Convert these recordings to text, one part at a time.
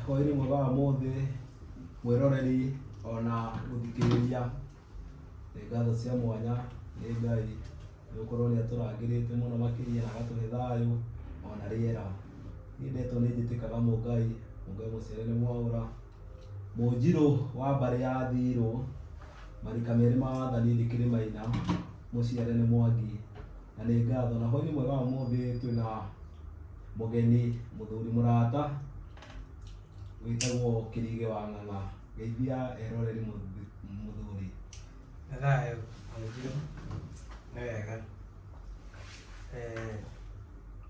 Hwaĩ-inĩ mwega wa ũmũthĩ mwĩroreri ona mũthikĩrĩria, nĩ ngatho cia mwanya nĩ Ngai nĩ gũkorwo nĩ atũrangĩrĩte mũno makĩria na agatũhe thayũ ona rĩera. Niĩ ndetwo nĩ njĩtĩkaga Mũngai, Mũngai mũciare nĩ Mwaũra, Mũnjirũ wa mbarĩ ya Thirũ, marika merĩ ma wathani ndĩkĩrĩ Maina, mũciare nĩ Mwangi na nĩ ngatho. Na hwaĩ-inĩ mwega wa ũmũthĩ twĩna... Mũgeni mũthuri mũrata wĩtagwo Kĩrigĩ wa Ng'ang'a, geithia eroreri mũthuri. Nĩ thayũ mũingĩ, nĩ wega.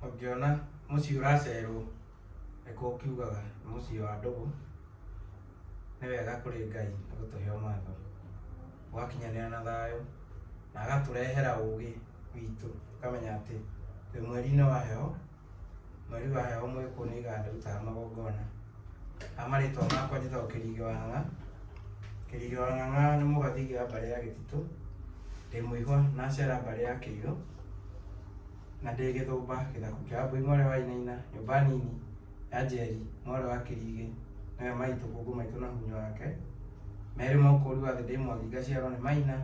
Ũngĩona mũciĩ ũracerwo nĩkuo ũkiugaga nĩ mũciĩ wa ndũgũ, nĩ wega kũrĩ Ngai nĩ gũtũhe ũmatho. ũgakinyanĩra na thayũ na agatũrehera ũgĩ witũ ũkamenya atĩ twĩ mweri-inĩ wa heho mweri wa heho mwĩkũ nĩ iganda rutaga magongona na marĩtwa makwa njĩtagwo kĩrigĩ wa ng'ang'a kĩrigĩ wa ng'ang'a nĩ mũgathigi wa mbarĩ ya gĩtitũ ndĩ mũihwa nacera mbarĩ ya kĩirũ Na ndĩ Gĩthũmba, gĩthaku kĩa Wambũi mwarĩ wa Inaina, nyũmba nini ya Njeri mwarĩ wa Kĩrigĩ, nĩwe maitũ, ngũngũ maitũ na hunyũ wake. Merĩ ma ũkũũri wa thĩ ndĩ Mwangi ngaciarwo nĩ Maina,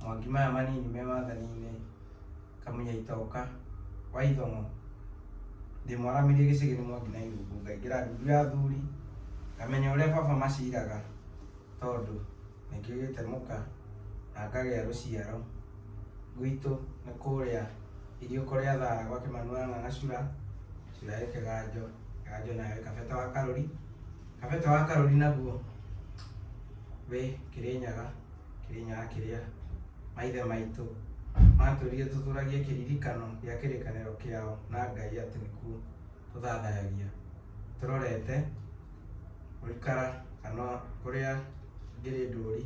Mwangi maya manini me wathani-inĩ, Kamunya Itoka wa Ithong'o. Ndĩ mwaramirie gĩcĩgĩ nĩ Mwangi na Irungu, ngaingĩra ndundu ya athuri, ngamenya ũrĩa baba maciraga, tondũ nĩkĩo gĩtemuka na ngagĩa rũciaro. gwitũ nĩ kũrĩa iriũko rĩa thara gwa kĩmanu wa ng'ang'acura cura ĩ kĩganjo kĩganjo nayo ĩ kabete wa karũri kabete wa karũri naguo wĩ kĩrĩnyaga kĩrĩnyaga kĩrĩa maithe maitũ matũrire tũtũragie kĩririkano gĩa kĩrĩkanĩro kĩao na ngai atĩ nĩkuo tũthathayagia tũrorete gũikara kana kũrĩa ngĩrĩ ndũri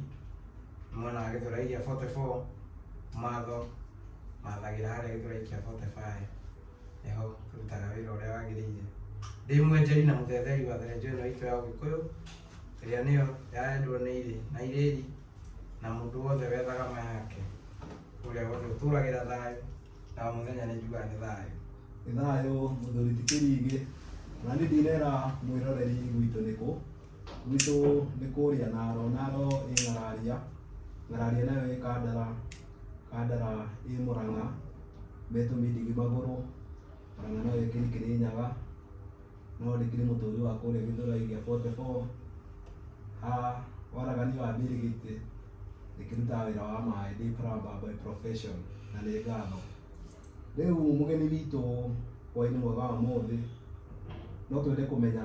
mwena wa gĩthurai gĩa 44 matho mathagĩra harĩa gĩthurai kĩa 45 nĩho tũrutaga wĩra ũrĩa wagĩrĩire ndĩ mwenjeri na mũthetheri wa therenjo ĩno itũ ya ũgĩkũyũ ĩrĩa nĩyo yaendwo nĩ irĩ na irĩri na mũndũ wothe wethaga ma yake ũrĩa wothe ũtũragĩra thayũ na mũthenya nĩ njugaga nĩ thayũ nĩ thayũ mũthuri ti kĩringĩ na nĩ ndinera mwĩroreri gwitũ nĩ kũ gwitũ nĩ kũrĩa naro naro ĩ ng'araria ng'araria nayo ĩ kandara kandara ĩ mũrang'a metũmindigi magũrũ mũrang'a nayo ĩ kĩrikĩrĩ nyaga Nĩwandĩkire mũtũũri wa kũũrĩa Gĩthũrai gĩa 44 ha waragania wa mbirigiti ĩkĩrutaga wĩra wa maĩ ndĩ plumber by profession na nĩ ngatho rĩu mũgeni witũ hwainĩ mwega wa mũthĩ no twende kũmenya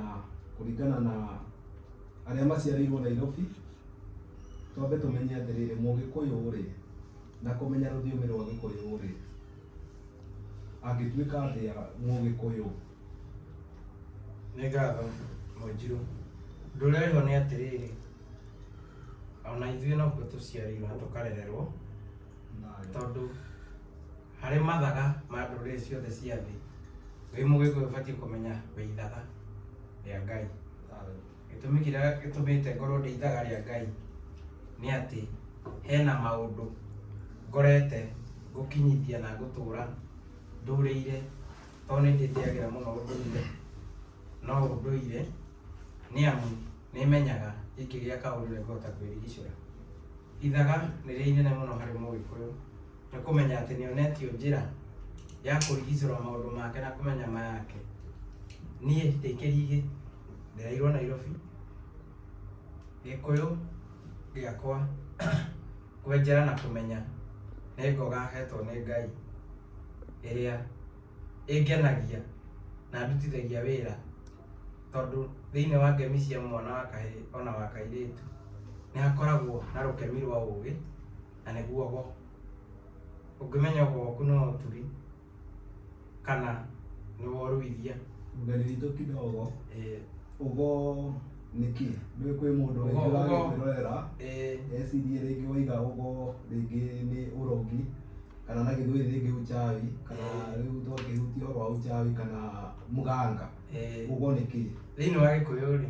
kũringana na arĩa maciarĩirwo Nairobi twambe tũmenye atĩrĩrĩ mũgĩkũyũ rĩ na kũmenya rũthiomi rwa gĩkũyũ rĩ angĩtuĩka atĩa mũgĩkũyũ Nĩ ngatho Mũnjirũ. Ndũrerwo nĩ atĩrĩrĩ, ona ithuĩ nokuo tũciarĩirwo na tũkarererwo, tondũ harĩ mathaga ma ndũrĩrĩ ciothe cia thĩ, wĩ Mũgĩkũyũ ũbatiĩ kũmenya wĩ ithaga rĩa Ngai. Gĩtũmi kĩrĩa gĩtũmĩte ngorwo ndĩ ithaga rĩa Ngai, nĩ atĩ hena maũndũ ngorete ngũkinyithia na ngũtũra ndũrĩire. tondũ nĩ ndĩtĩagĩra mũno ũndũire no ũndũire nĩ amu nĩ menyaga gĩkĩ gĩa kaũndũ nĩ ngũhota kwĩrigicũra. Ithaga nĩ rĩo inene mũno harĩ mũgĩkũyũ nĩ kũmenya atĩ nĩ onetio njĩra ya kũrigicũra maũndũ make na kũmenya mayake. Niĩ ndĩ kĩrigĩ ndereirwo Nairobi, gĩkũyũ gĩakwa Kwenjera na kũmenya nĩ ngoga hetwo nĩ Ngai ĩrĩa ĩngenagia na ndutithagia wĩra tondũ thĩinĩ wa ngemi cia mwana wa kahĩĩ ona wa kairĩtu nĩ hakoragwo na rũkemi rwa ũgĩ na nĩguo ũgo. Ũngĩmenya ũgo waku nĩ wa ũtugi kana nĩ woruithia Mbere itũ kidogo, eh, ũgo nĩ kĩ? Ndũĩ kwĩ mũndũ Ũgo- rĩngĩ ũgo. ũragĩkwĩrorera eh, ecirie rĩngĩ waiga ũgo rĩngĩ nĩ ũrogi kana na gĩthweri rĩngĩ uchawi kana Eh. rĩu twakĩhutia ũhoro wa uchawi kana mganga eh. ũgo nĩ kĩ? thĩinĩ wa gĩkũyũ rĩ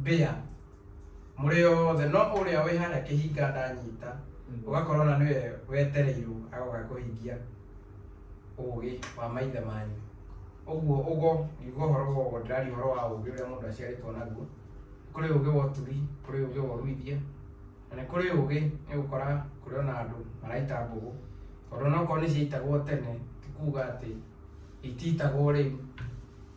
mbĩa mũrĩ othe no ũrĩa wĩ harĩa kĩhinga ndanyita ũgakorwo na nĩwe wetereirwo agoka kũhingia ũgĩ wa maithe manyu ũguo ũgo nĩguo ũhoro wa ũgo ndĩraria ũhoro wa ũgĩ ũrĩa mũndũ aciarĩtwo naguo kũrĩ ũgĩ wa ũtugi kũrĩ ũgĩ wa ũruithia na nĩ kũrĩ ũgĩ nĩ gũkora kũrĩ ona andũ maraita mbũgũ tondũ onokorwo nĩ ciaitagwo tene ti kuga atĩ itiitagwo rĩu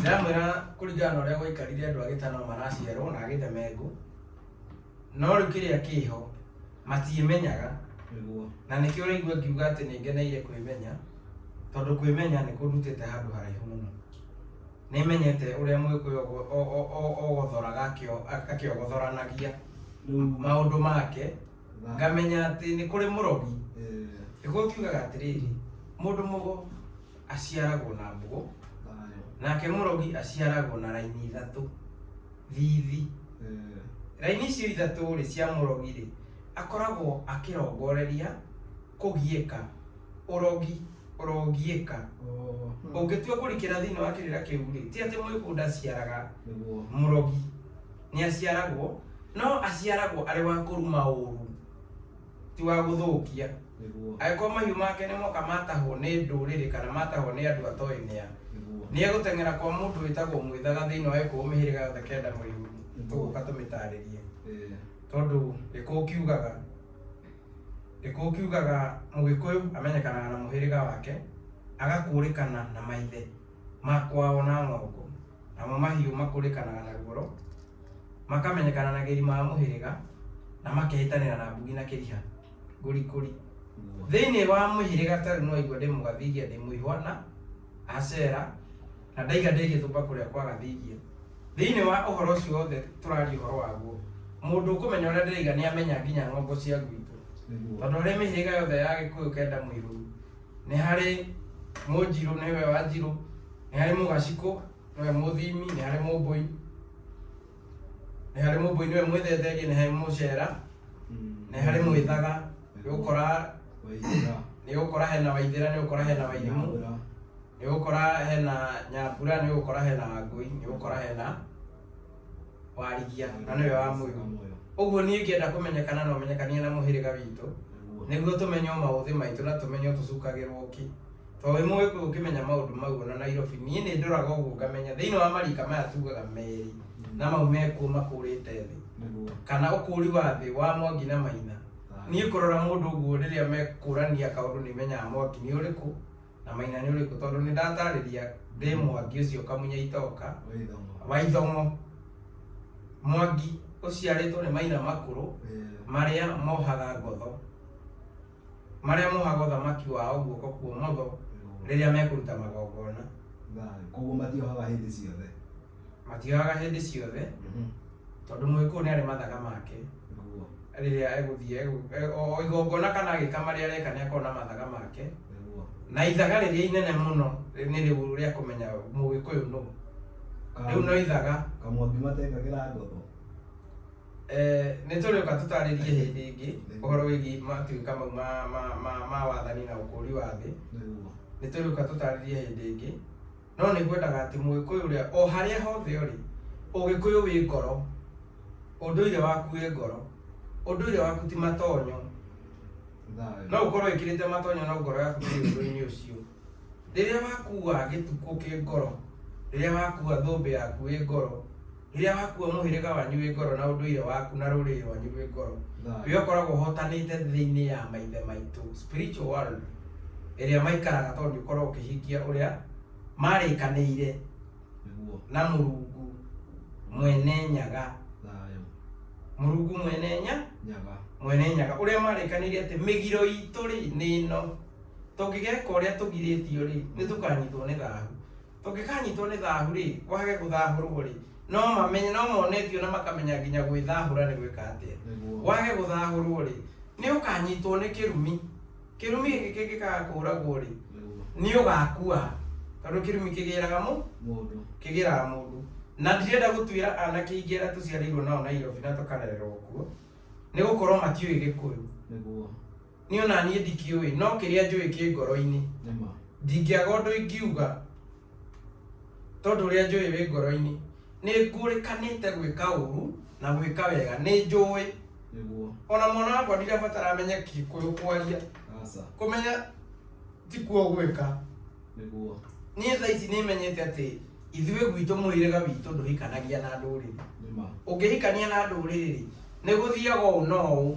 ndamwĩra kũringana na ũrĩa gwaikarire andũ a gĩtano maraciarwo na agĩthemengũ no rĩu kĩrĩa kĩho matiĩmenyaga nĩguo na nĩkĩo ũraigua ngiuga atĩ nĩ ngeneire kwĩmenya tondũ kwĩmenya nĩ kũndutĩte handũ haraihu mũno nĩmenyete ũrĩa mwĩkũyũ ogo- o- o- o- ogothoraga akĩo- akĩogothoranagia rĩu maũndũ make tha- ngamenya atĩ nĩ kũrĩ mũrogi eh, nĩguo ngiugaga atĩrĩrĩ mũndũ mũgo aciaragwo na mbugo nake murogi aciaragwo na raini ithatu thithi raini icio ithatu rĩ cia murogi rĩ akoragwo akĩrongoreria kũgiĩka urogi ũrogiĩka ũngĩtua kũrikĩra thĩinĩ wa kĩrĩra kĩu rĩ ti atĩ mũĩkũ ndaciaraga murogi nĩ aciaragwo no aciaragwo arĩ wa kũruma ũru ti wa gũthũkia nĩguo angĩkorwo mahiũ make nĩ moka matahwo nĩ ndũrĩrĩ kana matahwo nĩ andũ atoĩ nĩa nĩguo nĩ egũteng'era kwa mũndũ wĩtagwo mwĩthaga thĩinĩ wa gĩkũũ mĩhĩrĩga yothe kenda mũrĩu tũgũka tũmĩtarĩrie Eh, tondũ gĩkũũ kiugaga gĩkũũ kiugaga mũgĩkũyũ amenyekanaga na mũhĩrĩga wake agakũrĩkana na maithe ma kwao na ng'ongo, namo mahiũ makũrĩkanaga na ruoro, makamenyekana na gĩri ma mũhĩrĩga, na makehĩtanĩra na mbugi na kĩriha. Ngũrikũri. Thĩinĩ wa mũhĩrĩga tarĩ no igua ndĩ mũgathigia ndĩ mũihwa na Asera, na ndaiga ndĩ gĩthũmba kũrĩa kwa gathigia. Thĩinĩ wa ũhoro ũcio wothe tũraria ũhoro waguo, mũndũ ũkũmenya ũrĩa ndĩraiga nĩamenya nginya ng'ongo cia gwitũ. Tondũ harĩ mĩhĩrĩga yothe ya Gĩkũyũ kenda mũihũru, nĩ harĩ Mũnjirũ nĩwe Wanjirũ, nĩ harĩ Mũgacikũ nĩwe Mũthimi, nĩ harĩ Mũmbũi nĩ harĩ Mũmbũi nĩwe Mwĩthetheria, nĩ harĩ Mũcera, nĩ harĩ Mwĩthaga, nĩ ũgũkora nĩ ũgũkora hena Waithĩra, nĩ ũgũkora hena Wairimũ, nĩ ũgũkora hena Nyambura, nĩ ũgũkora hena Wangũi, nĩ ũgũkora hena... warigia na nĩwe wa muoyo ũguo niĩ ngĩenda kũmenyekana na ũmenyekanie na mũhĩrĩga witũ nĩguo tũmenye maũthĩ maitũ na tũmenye tũcukagĩrwo kĩ to wĩ mũĩ kũĩ ũkĩmenya maũndũ mau ona nairobi niĩ nĩ ndoraga ũguo ngamenya thĩinĩ wa marika maya tugaga merĩ na mau mekuo makũrĩte thĩ kana ũkũri wa thĩ wa mwangi na maina niĩ kũrora mũndũ ũguo rĩrĩa mekũrania kaũndũ nĩ menyaga mwangi nĩ ũrĩkũ na maina nĩ ũrĩkũ tondũ nĩ ndatarĩria ndĩ mwangi ũcio ũkamunya itoka wa ithomo mwangi ũciarĩtwo nĩ maina makũrũ marĩa mohaga ngotho marĩa mohaga ũthamaki wao guoko kuomotho rĩrĩa mekũruta magongona koguo matiohaga hĩndĩ ciothe matiagaga hĩndĩ ciothe Mhm. tondũ mũgĩkũyũ nĩ arĩ mathaga make Nĩguo. rĩrĩa egũthiĩ egũ- e- o o igongona kana agĩka marĩa areka nĩ akorwo na mathaga make Nĩguo. na ithaga rĩrĩa inene mũno nĩ rĩu rĩa kũmenya mũgĩkũyũ nũ Ka- rĩu no ithaga kamwaki matekagĩra ngotho Eh, nĩ tũrĩũka tũtarĩrie hĩndĩ ĩngĩ ũhoro wĩgiĩ matuĩka mau ma- ma- ma- ma wathani na ũkũũri wa thĩ Nĩguo. nĩ tũrĩũka tũtarĩrie hĩndĩ ĩngĩ No nĩ ngwendaga atĩ Mũgĩkũyũ ũrĩa o harĩa hothe ũrĩ, Ũgĩkũyũ wĩ ngoro, ũndũire waku wĩ ngoro, ũndũire waku ti matonyo. No ũkorwo wĩkĩrĩte matonyo no ngoro yaku ndĩrĩ ũndũ-inĩ ũcio. Rĩrĩa wakua gĩtukũ kĩ ngoro, rĩrĩa wakua thũmbĩ yaku ĩ ngoro. rĩrĩa wakua mũhĩrĩga wanyu wĩ ngoro na ũndũire waku na rũrĩrĩ rwanyu rwĩ ngoro we ũkoragwo ũhotanĩte thĩinĩ ya maithe maitũ spiritual world ĩrĩa maikaraga tondũ nĩ ũkoragwo ũkĩhingia ũrĩa marĩkanĩire nĩguo na mũrungu mwene nyaga thayũ mũrungu mwene nya nyaga mwene nyaga ũrĩa marĩkanĩire atĩ mĩgiro itũ rĩ nĩ ĩno tũngĩgeka ũrĩa tũgirĩtio rĩ nĩ tũkanyitwo nĩ thahu Tũngĩkanyitwo nĩ thaahu-rĩ, kwage gũthaahũrwo-rĩ, no mamenye, no mone biũ na makamenya nginya gwĩthaahũra nĩ gwĩka atĩa. Nĩguo. Wage gũthaahũrwo-rĩ, nĩ ũkanyitwo nĩ kĩrumi. Kĩrumi gĩkĩ kĩngĩkaga kũũragwo-rĩ, Nĩguo. nĩ ũgakua. Tondũ kĩrumi kĩgĩraga mũ, Mũndũ. kĩgĩraga mũndũ. Na ndirenda gũtuĩra anake aingĩ arĩa tũciarĩirwo nao Nairobi na tũkarererwo kuo, nĩ gũkorwo matiũĩ Gĩkũyũ. Nĩguo. Nĩ ona niĩ ndikĩũĩ, no kĩrĩa njũĩ kĩ ngoro-inĩ. Nĩma. Ndingĩaga ũndũ ingiuga, tondũ ũrĩa njũĩ wĩ ngoro-inĩ. Nĩ ngũrĩkanĩte gwĩka ũru na gwĩka wega, nĩ njũĩ. Nĩguo. Ona mwana wakwa ndirabatara amenye Gĩkũyũ kwaria, Aca. kũmenya ti kuo gwĩka. Nĩguo. Niĩ thaa ici nĩ menyete atĩ ithuĩ gwitũ mũhĩrĩga witũ ndũhikanagia na ndũrĩrĩ. Nĩma. Ũngĩhikania na ndũrĩrĩ-rĩ, nĩ gũthiaga ũũ na ũũ.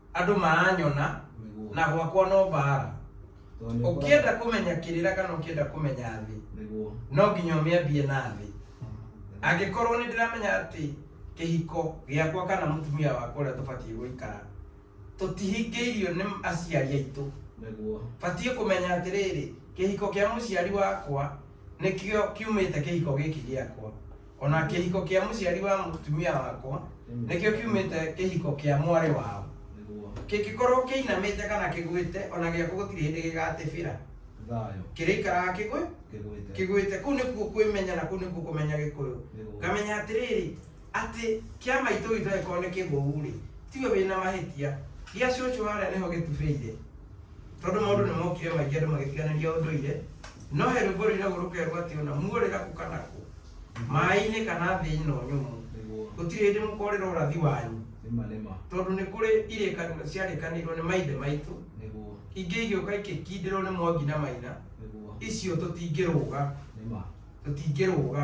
Andũ maranyona na gwakwa no mbaara. Ũkĩenda kũmenya kĩrĩra kana ũkĩenda kũmenya thĩ, no nginya ũmĩambie na thĩ. Angĩkorwo nĩ ndĩramenya atĩ kĩhiko gĩakwa kana mũtumia wakwa ũrĩa tũbatiĩ gũikara, tũtihingĩirio nĩ aciari aitũ, batiĩ kũmenya atĩrĩrĩ, kĩhiko kĩa mũciari wakwa nĩkĩo kiumĩte kĩhiko gĩkĩ gĩakwa. O na kĩhiko kĩa mũciari wa mũtumia wakwa nĩkĩo kiumĩte kĩhiko kĩa mwarĩ wao. Kĩngĩkorwo kĩinamĩte kana kĩgwĩte, o na gĩakwa gũtirĩ hĩndĩ gĩgatĩbĩra. Kĩrĩikaraga kĩgwĩ kĩgwĩte. Kũu nĩkuo kwĩmenya na kũu nĩkuo kũmenya Gĩkũyũ. Ngamenya atĩrĩrĩ, atĩ kĩa maitũ witũ angĩkorwo nĩ kĩgũu-rĩ, tiwe wĩna mahĩtia, gĩa cũcũ harĩa nĩho gĩtubĩire. Tondũ maũndũ nĩ mokire maingĩ andũ magĩtiganĩria ũndũire, no he rwĩmbo rũinagwo rũkerwo atĩ ona muorĩra kũ kana kũ, maĩ-inĩ kana thĩ ĩno nyũmũ, Nĩguo. gũtirĩ hĩndĩ mũkorĩra ũrathi wanyu, Nĩma nĩma. tondũ nĩ kũrĩ irĩkanĩro ciarĩkanĩirwo nĩ maithe maitũ, Nĩguo. ingĩ igĩũka ikĩkindĩrwo nĩ Mwangi na Maina, Nĩguo. icio tũtingĩrũga, Nĩma. tũtingĩrũga.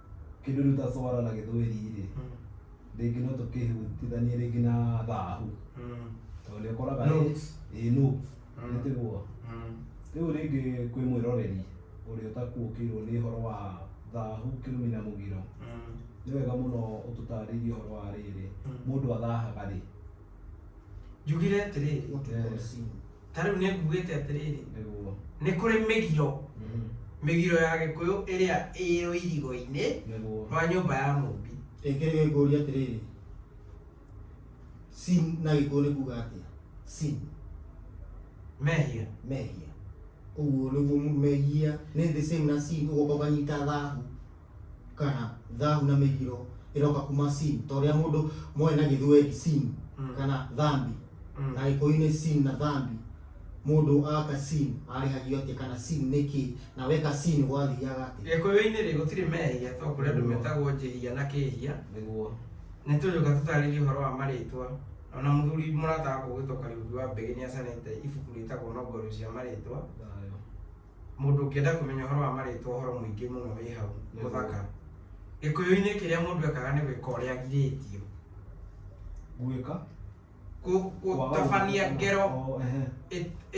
kĩndũ rĩu ta swara na gĩthweri rĩ Mm. rĩngĩ no tũkĩhutithanie rĩngĩ na thahu Mm. tondũ nĩ ũkoraga Notes. ĩ no Mm. nĩtiguo Mm. rĩu rĩngĩ kwĩ mwĩroreri ũrĩa ũtakuũkĩirwo nĩ ũhoro wa thahu kĩrumi na mũgiro Mm. nĩ wega mũno ũtũtarĩrie ũhoro wa rĩrĩ Mm. mũndũ athahaga rĩ njugire atĩrĩrĩ What we Eh. call sin. ta rĩu nĩ ngugĩte atĩrĩrĩ nĩguo nĩ kũrĩ mĩgiro Mhm. mĩgiro ya gĩkũyũ ĩrĩa ĩrĩ ũirigo-inĩ nĩguo rwa nyũmba ya mũmbi rĩngĩ rĩngĩ ngũria atĩrĩrĩ sin na gĩkũyũ nĩ kuga atĩa sin mehia mehia ũguo nĩguo mu- mehia nĩ the same na sin ũgoka ũkanyita thahu kana thahu na mĩgiro ĩroka kuma sin ta ũrĩa mũndũ moĩ na gĩthweri sin Mm. kana thambi Mm. na gĩkũyũ-inĩ sin na thambi mũndũ aka sin arĩhagio atĩa kana sin nĩ kĩ na weka sin gwathiaga atĩa gĩkũyũ-inĩ rĩ gũtirĩ mehia to kũrĩ andũ metagwo njĩhia na kĩhia nĩguo nĩ tũgĩũka tũtarĩrie ũhoro wa marĩtwa ona mũthuri mũrata wakwa ũgĩtwo kariuki wa mbĩgĩ nĩ acanĩte ibuku rĩtagwo nongoro cia marĩtwa thayũ Mũndũ ũngĩenda kũmenya ũhoro wa marĩtwa ũhoro mũingĩ mũno wĩ hau mũthaka. Gĩkũyũ-inĩ kĩrĩa mũndũ ekaga nĩ gwĩka ũrĩa agirĩtio. Gwĩka? Gũtabania ngero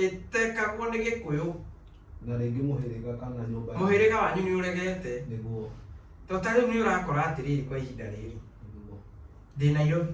ĩtekagwo nĩ Gĩkũyũ. Na rĩngĩ mũhĩrĩga kana nyũmba. Mũhĩrĩga wanyu nĩ ũregete. Nĩguo. Tondũ ta rĩu nĩ ũrakora atĩrĩrĩ kwa ihinda rĩrĩ, ndĩ Nairobi,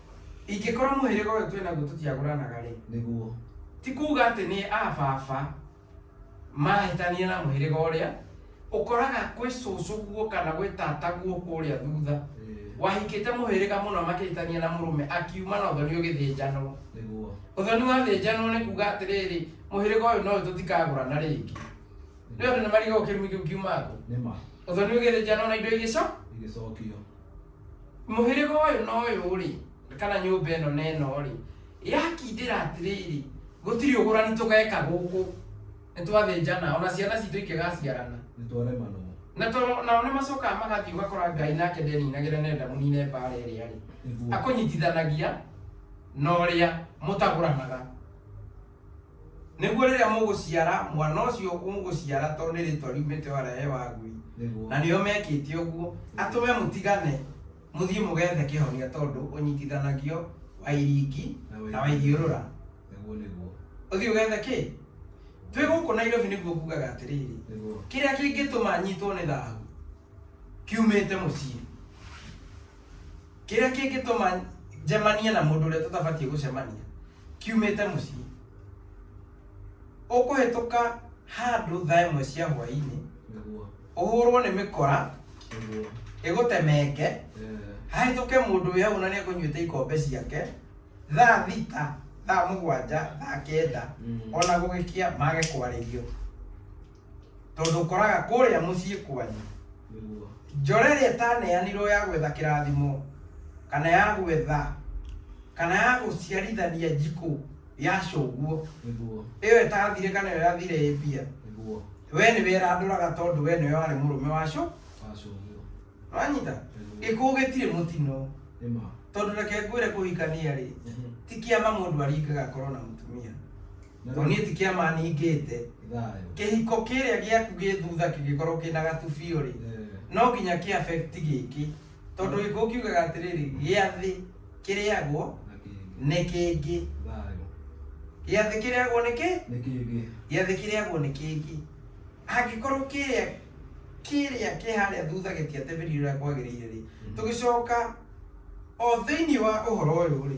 ingĩkorwo mũhĩrĩga ũyũ twĩ naguo tũtiagũranaga rĩ nĩguo ti kuga atĩ nĩ a baba mahĩtania na mũhĩrĩga ũrĩa ũkoraga kwĩ cũcũ guo kana gwĩ tata guo kũrĩa thutha Eh, wahikĩte mũhĩrĩga mũno makĩhĩtania na mũrũme akiuma na ũthoni ũgĩthĩnjanwo nĩguo ũthoni wathĩnjanwo nĩ kuga atĩrĩrĩ mũhĩrĩga ũyũ no tũtikagũrana rĩngĩ nĩ andũ nĩ mariga ũkĩrumi kĩu kiuma ngũ nĩma ũthoni ũgĩthĩnjanwo na indo igĩco igĩcokio Mũhĩrĩga ũyũ na ũyũ-rĩ, kana nyũmba ĩno na ĩno-rĩ, yakindĩra atĩrĩrĩ, gũtirĩ ũgũrani tũgeka gũkũ, nĩtwathĩnjana, ona ciana citũ ingĩgaciarana, nĩtwaremanwo. Na to, nao nĩmacokaga magathiĩ ũgakora Ngai nake ndeninagĩra nenda mũnine mbaara ĩrĩa-rĩ, Nĩguo. akũnyitithanagia na ũrĩa mũtagũranaga. Nĩguo rĩrĩa mũgũciara mwana ũcio mũgũciara tondũ nĩ rĩtwa riumĩte wara he wagwi Nĩguo. na nĩo mekĩte ũguo atũme mũtigane mũthiĩ mũgethe kĩhonia tondũ ũnyitithanagio wa iringi Na wa na wa ithiũrũra Nĩguo nĩguo. ũthiĩ ũgethe kĩ twĩ gũkũ nairobi nĩguo ngugaga atĩrĩrĩ Nĩguo. kĩrĩa kĩngĩtũma nyitwo nĩ thahu kiumĩte mũciĩ kĩrĩa kĩngĩtũma njemanie na mũndũ ũrĩa tũtabatiĩ gũcemania kiumĩte mũciĩ ũkũhĩtũka handũ thaa ĩmwe cia hwaĩ-inĩ nĩguo ũhũrwo nĩ mĩkora nĩguo ĩgũtemenge eh, hahĩtũke mũndũ wĩ hau na nĩ ekũnyuĩte ikombe ciake thaa thita thaa mũgwanja thaa kenda mm. ona gũgĩkia mage kwarĩrio tondũ ũkoraga kũrĩa mũciĩ kwanyu Nĩguo. njora ĩrĩa ĩtaneanirwo ya gwetha kĩrathimo kana ya gwetha kana ya gũciarithania njikũ ya cũguo Nĩguo. ĩyo ĩtathire kana ĩyo yathire ĩ mbia Nĩguo. we nĩ werandũraga tondũ we nĩwe warĩ mũrũme wa cũ Wacũguo. wanyita gĩkuũ gĩtirĩ mũtino Nĩ ma. tondũ reke ngwĩre kũhikania rĩ ti kĩama mũndũ aringaga korwo na mũtumia Na tondũ rĩu- niĩ ti kĩama ningĩte thayũ kĩhiko kĩrĩa gĩaku gĩ thutha kĩngĩkorwo kĩna gatubiũ rĩ Eh, no nginya kĩ affect gĩkĩ tondũ gĩkĩ ũkiugaga atĩrĩrĩ gĩa thĩ kĩrĩagwo na kĩngĩ nĩ kĩngĩ thayũ gĩa thĩ kĩrĩagwo nĩ kĩ nĩ kĩngĩ gĩa thĩ kĩrĩagwo nĩ kĩngĩ angĩkorwo kĩrĩa kĩrĩa kĩ harĩa thutha gĩtiatebĩrire ũrĩa kwagĩrĩire rĩ tũgĩcoka o thĩinĩ wa ũhoro ũyũ rĩ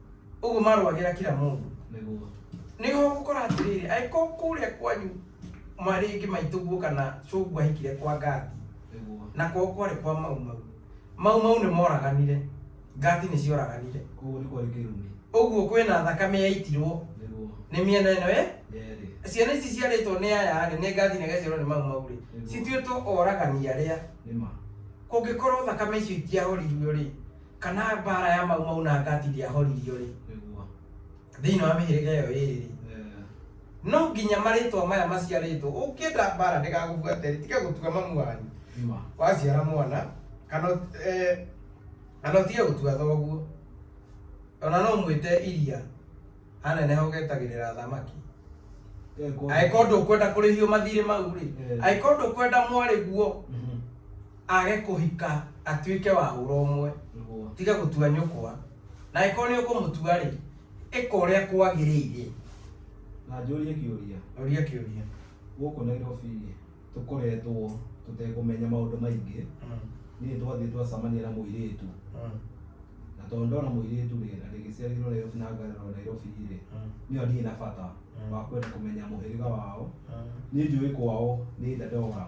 ũguo marwagĩra kira mũndũ nĩguo nĩho gũkora atĩrĩrĩ angĩkorwo kũrĩa kwanyu marĩngĩ maitũ guo kana cũngu ahikire kwa ngati nĩguo na kwao kwarĩ kwa mau mau mau mau nĩ moraganire ngati nĩ cioraganire koguo nĩ kwarĩ kĩrumi ũguo kwĩna thakame yaitirwo nĩguo nĩ mĩena ĩno ĩ yerĩ ciana ici ciarĩtwo nĩ aya rĩ nĩ ngathi na igaciarwo nĩ mau mau rĩ Nĩguo. cituĩtwo oragani arĩa nĩ ma kũngĩkorwo thakame icio itiahoririo rĩ kana mbaara ya Mau Mau na Gati ndĩahoririo-rĩ, Nĩguo. thĩinĩ wa mĩhĩrĩga ĩyo ĩĩrĩ-rĩ, Eh, no nginya marĩtwa maya maciarĩtwo ũngĩenda mbaara ndĩgagũbuate-rĩ, tiga gũtua mamu wanyu Ima. waciara mwana kana ũt- eh, kana ũtige gũtua thoguo ona no mwĩte iria aneneha ũgetagĩrĩra thamaki Eh, kwa- angĩkorwo ndũkwenda kũrĩhio mathirĩ mau-rĩ Eh. angĩkorwo ndũkwenda mwarĩ guo Mhm. Age kũhika atuĩke wa hũra ũmwe, Nĩguo. tiga gũtua nyũkwa, na angĩkorwo nĩ ũkũmũtua-rĩ, ĩka ũrĩa kwagĩrĩire. Na njũrie kĩũria, Ũria kĩũria. gũkũ Nairobi-rĩ, tũkoretwo tũtekũmenya maũndũ maingĩ. Mm, Niĩ twathiĩ twacamania na mũirĩtu, mm, na tondũ ndona mũirĩtu-rĩ, na ndĩgĩciarĩirwo Nairobi na ngarerwo Nairobi-rĩ, mm, niĩ ndirĩ na bata Mm. wa kwenda kũmenya mũhĩrĩga wao. mm. Niĩ njũĩ kwao nĩ Dandora.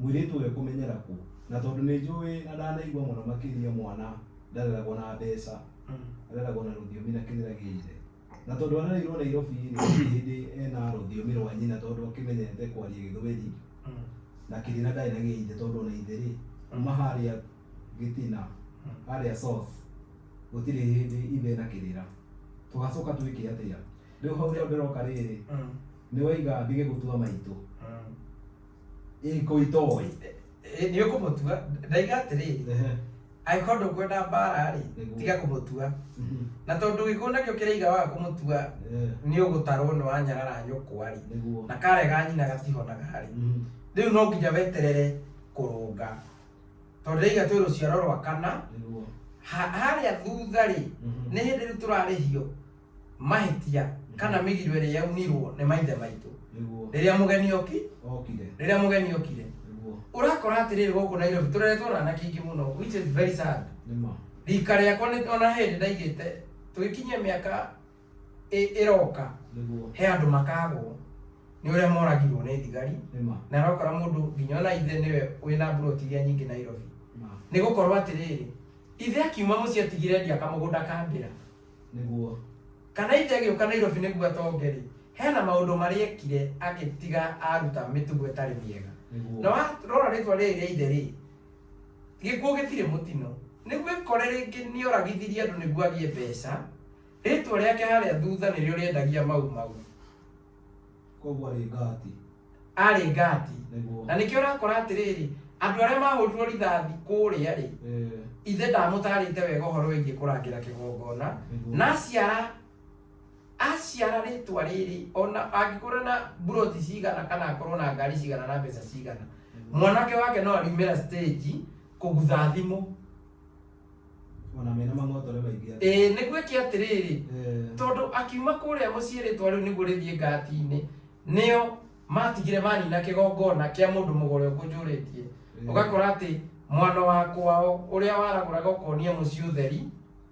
Mwĩrĩtu ũyũ ekũmenyera kũ? Na tondũ nĩ njũĩ na ndanaigua mũno makĩria mwana ndareragwo na mbeca, areragwo na rũthiomi na kĩrĩra gĩa ithe. Na tondũ arereirwo Nairobi-rĩ, gũtirĩ hĩndĩ ena rũthiomi rwa nyina tondũ akĩmenyerete kwaria gĩthweri na kĩrĩra ndarĩ na gĩa ithe tondũ ona ithe-rĩ, kuma harĩa gĩtina, harĩa source, gũtirĩ hĩndĩ ithe ena kĩrĩra. Tũgacoka twĩke atĩa? Rĩu hau nĩho ndĩroka rĩrĩ, nĩwaiga ndige gũtua maitũ. Ĩko itoĩ. Nĩ ũkũmũtua. Ndaiga atĩrĩ, angĩkorwo ndũkwenda mbara-rĩ, Nĩguo. tiga kũmũtua. Mhm. Na tondũ gĩkuũ nakĩo kĩraiga waga kũmũtua, Eh, nĩ ũgũtarwo nĩ wanyarara nyũkwa-rĩ, Nĩguo. na karega nyina gatihonaga-rĩ, Mhm. rĩu no nginya weterere kũrũnga. Tondũ ndaiga twĩ rũciaro rwa kana, Nĩguo. ha- harĩa thutha-rĩ, Mhm. nĩ hĩndĩ rĩu tũrarĩhio mahĩtia kana mĩgiro ĩrĩa yaunirwo nĩ maithe maitũ nĩguo rĩrĩa mũgeni oki okire rĩrĩa mũgeni okire nĩguo ũrakora atĩrĩrĩ gũkũ nairobi tũreretwo na anake ingĩ mũno which is very sad nĩma rika rĩakwa nĩ ona hĩndĩ ndaigĩte tũgĩkinyia mĩaka ĩ- ĩroka nĩguo he andũ makagwo nĩ ũrĩa moragirwo nĩ thigari nĩma na arakora mũndũ nginya ona ithe nĩwe wĩ na mburoti iria nyingĩ nairobi ma nĩ gũkorwo atĩrĩrĩ ithe akiuma mũciĩ atigire endia kamũgũnda ka ndĩra nĩguo kana ithe agĩũka nairobi nĩguo atonge rĩ hena maũndũ marĩa ekire agĩtiga aruta mĩtugo ĩtarĩ mĩega nĩguo na warora rĩtwa rĩrĩ rĩa ithe rĩ gĩkuũ gĩtirĩ mũtino nĩguo ĩkore rĩngĩ nĩ oragithirie andũ nĩguo agĩe mbeca rĩtwa rĩake harĩa thutha nĩrĩo rĩendagia mau mau koguo arĩ ngati arĩ ngati nĩguo na nĩkĩo ũrakora atĩrĩrĩ andũ arĩa mahũrirwo rithathi kũrĩa rĩ Eh, ithe ndamũtarĩte wega ũhoro wĩgiĩ kũrangĩra kĩgongona nĩguo. na aciara aciara rĩtwa rĩrĩ ona angĩkorwo na buroti cigana kana akorwo na ngari cigana na mbeca cigana mwanake wake no ariumĩra stage kũgutha thimũ Ona mena mang'otore maingĩ atĩa. Ĩĩ, nĩguo eke atĩrĩrĩ, Eh. tondũ akiuma kũrĩa mũciĩ rĩĩtwa rĩu nĩguo rĩthiĩ Gati-inĩ, nĩo maatigire manina kĩgongona kĩa mũndũ mũgore ũkũnjũrĩtie. Ĩĩ. Ũgakora atĩ mwana wa kwao ũrĩa waragũraga ũkonia mũciĩ ũtheri,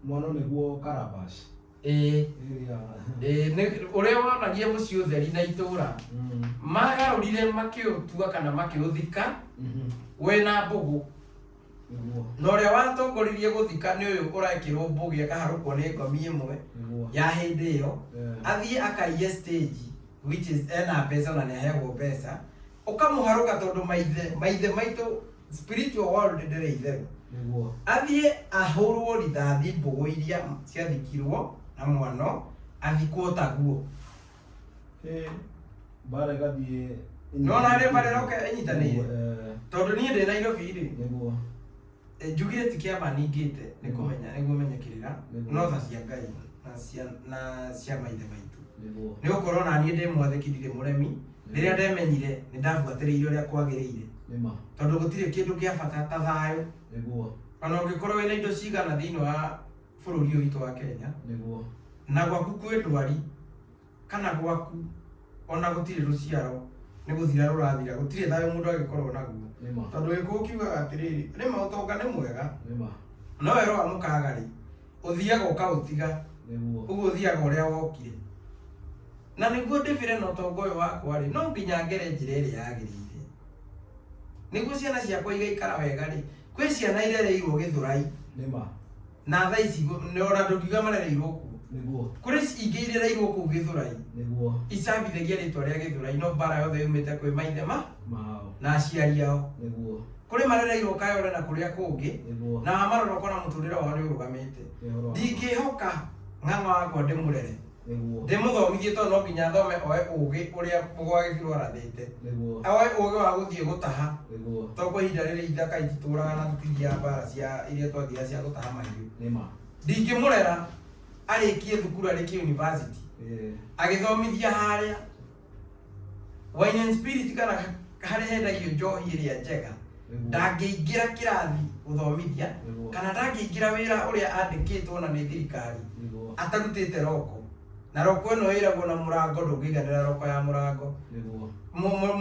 Mwana nĩguo Calabash. ĩĩ, Area. ĩĩ, nĩ- ũrĩa wonagia mũciĩ ũtheri na itũũra, Mm. magarũrire makĩũtua kana makĩũthika Mhm. we na mbũgũ. Nĩguo. na ũrĩa watongoririe gũthika nĩ ũyũ ũrekĩrwo mbũgĩ akaharũkwo nĩ ngomi ĩmwe Nĩguo. ya hĩndĩ ĩyo Eh. athiĩ akaiye stage which is ena mbeca na nĩaheagwo mbeca ũkamũharũka tondũ maithe maithe maitũ spiritual world ndĩrĩ itherũ Nĩguo. athiĩ ahũrwo rithathi mbũgũ iria ciathikirwo na mwano athikwo taguo mbara ĩgathiĩ nona nĩ mbara ĩroka ĩnyitanĩire tondũ niĩ ndĩ nairobi rĩ nĩguo njugire ti kĩama ningĩte nĩ kũmenya nĩguo menye kĩrĩra no tha cia ngai na cia na cia maithe maitũ nĩ gũkorwo na niĩ ndĩmwathĩkithire mũremi rĩrĩa ndemenyire nĩ ndabuatĩrĩire ũrĩa kwagĩrĩire tondũ gũtirĩ kĩndũ gĩa bata ta thayũ ona ũngĩkorwo wĩna indo cigana thĩinĩ wa bũrũri ũyũ witũ wa Kenya nĩguo na gwaku kwĩ ndwari kana gwaku ona gũtirĩ rũciaro nĩ gũthira rũrathira gũtirĩ thayũ mũndũ agĩkorwo naguo nĩma tondũ gĩkũũ kiugaga atĩrĩrĩ nĩma ũtonga nĩ mwega nĩma no wero wa mũkaga rĩ ũthiaga ũkaũtiga nĩguo ũguo ũthiaga ũrĩa wokire Na nĩguo ndĩbĩre na ũtonga ũyũ wakwa-rĩ, no nginya ngere njĩra ĩrĩa yagĩrĩire. Nĩguo ciana ciakwa igaikara wega-rĩ, kwĩ ciana irereirwo Gĩthũrai. Nĩ ma. Na thaa ici gũ- na ona ndũngiuga marereirwo kuo. Nĩguo. Kũrĩ ci- ingĩ irereirwo kũu Gĩthũrai, Nĩguo. icambithagia rĩtwa rĩa Gĩthũrai, no mbara yothe yumĩte kwĩ maithe ma Mao. na aciari ao. Nĩguo. Kũrĩ marereirwo Kayole na kũrĩa kũngĩ, Nĩguo. na wamarora ũkona mũtũrĩre wao nĩũrũgamĩte. Nĩ ũhoro wa ma. Ndingĩhoka ng'ang'a wakwa ndĩmũrere. Nĩguo. Ndĩmũthomithie tondũ no nginya athome oe ũũgĩ ũrĩa mũgwa gĩbirũ arathĩte. Nĩguo. Oe ũũgĩ wa gũthiĩ gũtaha. Nĩguo. Tondũ kwa ihinda rĩrĩ ithaka ititũũraga na tũtithiaga mbaara cia iria twathiaga cia gũtaha mahiũ. Nĩ ma. Ndingĩmũrera arĩkie thukuru arĩkie yunivasĩtĩ Ĩĩ. agĩthomithia harĩa wine and spirit kana harĩa hendagio njohi ĩrĩa njega ndangĩingĩra kĩrathi gũthomithia Nĩguo. kana ndangĩingĩra wĩra ũrĩa andĩkĩtwo na nĩ thirikari Nĩguo. atarutĩte roko na roko ĩno ĩragwo na mũrango ndũngĩiganĩra roko ya mũrango Nĩguo. Mu- mu- mu-